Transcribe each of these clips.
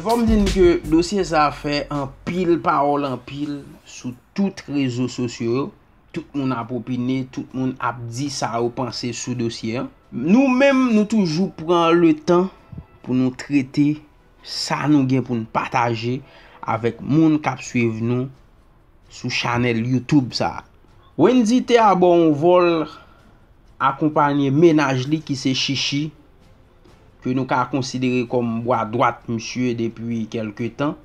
Fòm di n ke dosye sa fè anpil pawòl anpil sou tout rezo sosyo yo, tout moun ap opine, tout moun ap di sa yo panse sou dosye an. Nou menm nou toujou pran le tan pou nou trete sa nou gen pou n pataje avèk moun k ap swiv nou. Sou chanèl YouTube sa. Wendy te abò yon vòl akonpanye mennaj li ki se Chichi, ke nou ka konsidere kòm bwa dwat misye depi kèlke tan.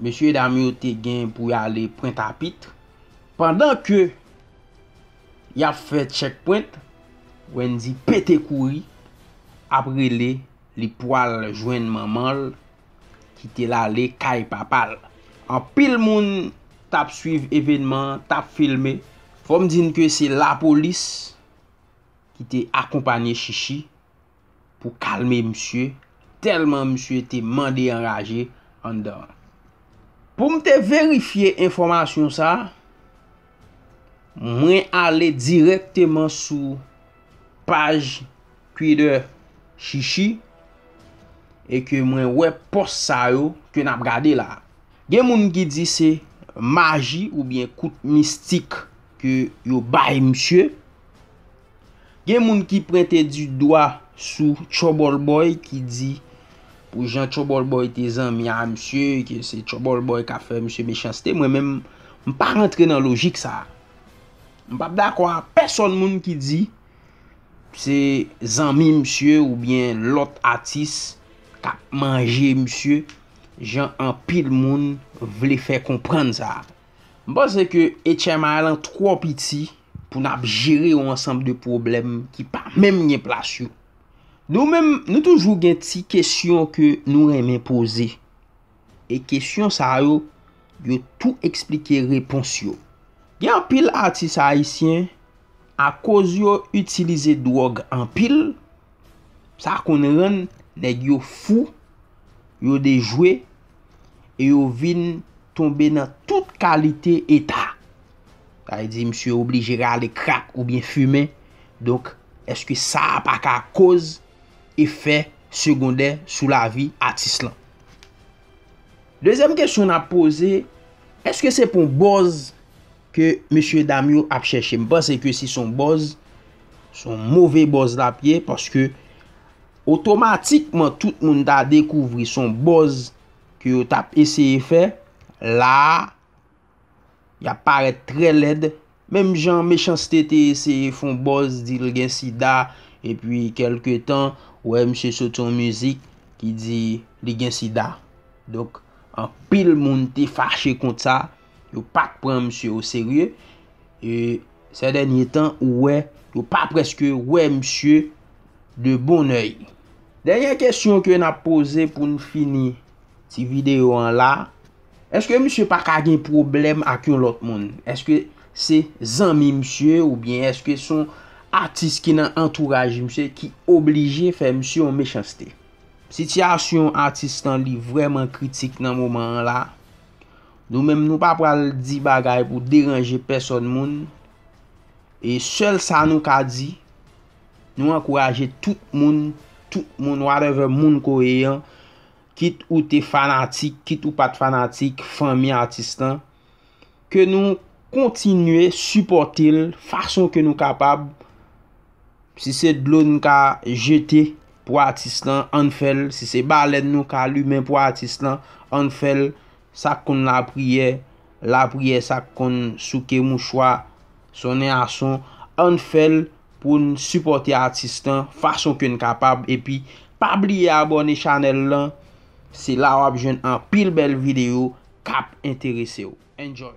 Mesye dam yo te gen pou y ale pwent a pitre. Pandan ke y ap fè tchèk pwent, Wendy pete kouri ap rele li pwal jwenn manman l. kite l ale kay papa l. Anpil moun t ap swiv evenman an, t ap filme. Fò m di n ke se lapolis ki te akonpanye Chichi pou kalme misye, tèlman misye te mande anraje anndan an. Pou m te verifye enfòmasyon sa, mwen ale dirèkteman sou. paj Twitter Shishi e ke mwen wè pòs sa yo ke nap gade la. Gen moun ki di se maji ou byen kout mistik ke yo bay misye. Gen moun ki prente di dwa sou Trouble Boy ki di pou jan Trouble Boy te zanmi a misye ke se Trouble Boy ka fè misye mechanste. Mwen menm m pa rantre nan lojik sa. M pap dakò a pèsòn moun ki di se zanmi misye oubyen lòt atis kap manje misye jan anpil moun vle fè konprann sa. M panse ke HMI lan twò piti pou nap jere yon ansanm de pwoblèm ki pa menm gen plas yo. Nou menm nou toujou gen ti kesyon ke nou renmen poze. E kesyon sa yo, yo tou eksplike repons yo. Gen anpil atis ayisyen, akoz yo itilize dwòg anpil, sa konn rann nèg yo fou, yo dejwe, e yo vin tonbe nan tout kalite eta. Sa vle di misye oblije rale krak oubyen fimen, donk èske sa a pa ka koz. efè segondè sou lavi atis lan. Dezyèm kesyon n ap poze, èske se pou bòz ke mesye dam yo ap chèche? M panse ke si son bòz, son move bòz l ap ye, paske otomatikman tout moun ta dekouvri son bòz ke yo t ap eseye fè, la a, Y ap parèt trè lèd. Menm jan Mechans-T te eseye fè yon buzz di l gen sida epi kèlke tan ou wè misye soti yon mizik ki di li gen sida. Donk anpil moun te fache kont sa, yo pa t pran misye o serye. E sè dènye tan ou wè yo pa prèske wè misye de bon oeil. Dènyè kesyon ke n ap poze pou n fini ti videyo an la. Eske misye pa ka gen pwoblèm ak yon lòt moun? Eske se zanmi misye ou byen eske son atis ki nan antouraj misye ki oblije fè misye yon mechanste? Sitiyasyon atis Stanley vrèman kritik nan moman an la. Nou menm nou pa pral di bagay pou deranje pèsòn moun. E sèl sa nou ka di, nou ankouraje tout moun, tout moun whatever moun ke w ye an, kit ou te fanatik, kit ou pat fanatik, fanmi atis lan, ke nou kontinye sipòte l fason ke nou kapab, si se dlo nou ka jete pou atis lan, ann fè l, si se balèn nou ka limen pou atis lan, ann fè l, sak konn lapriyè, lapriyè, sak konn souke mouchwa, sonnen ason, ann fè l. pou n sipòte atis lan fason ke n kapab epi pa bliye abòne chanèl lan se la wap jwenn anpil bèl videyo kap enterese w enjoy.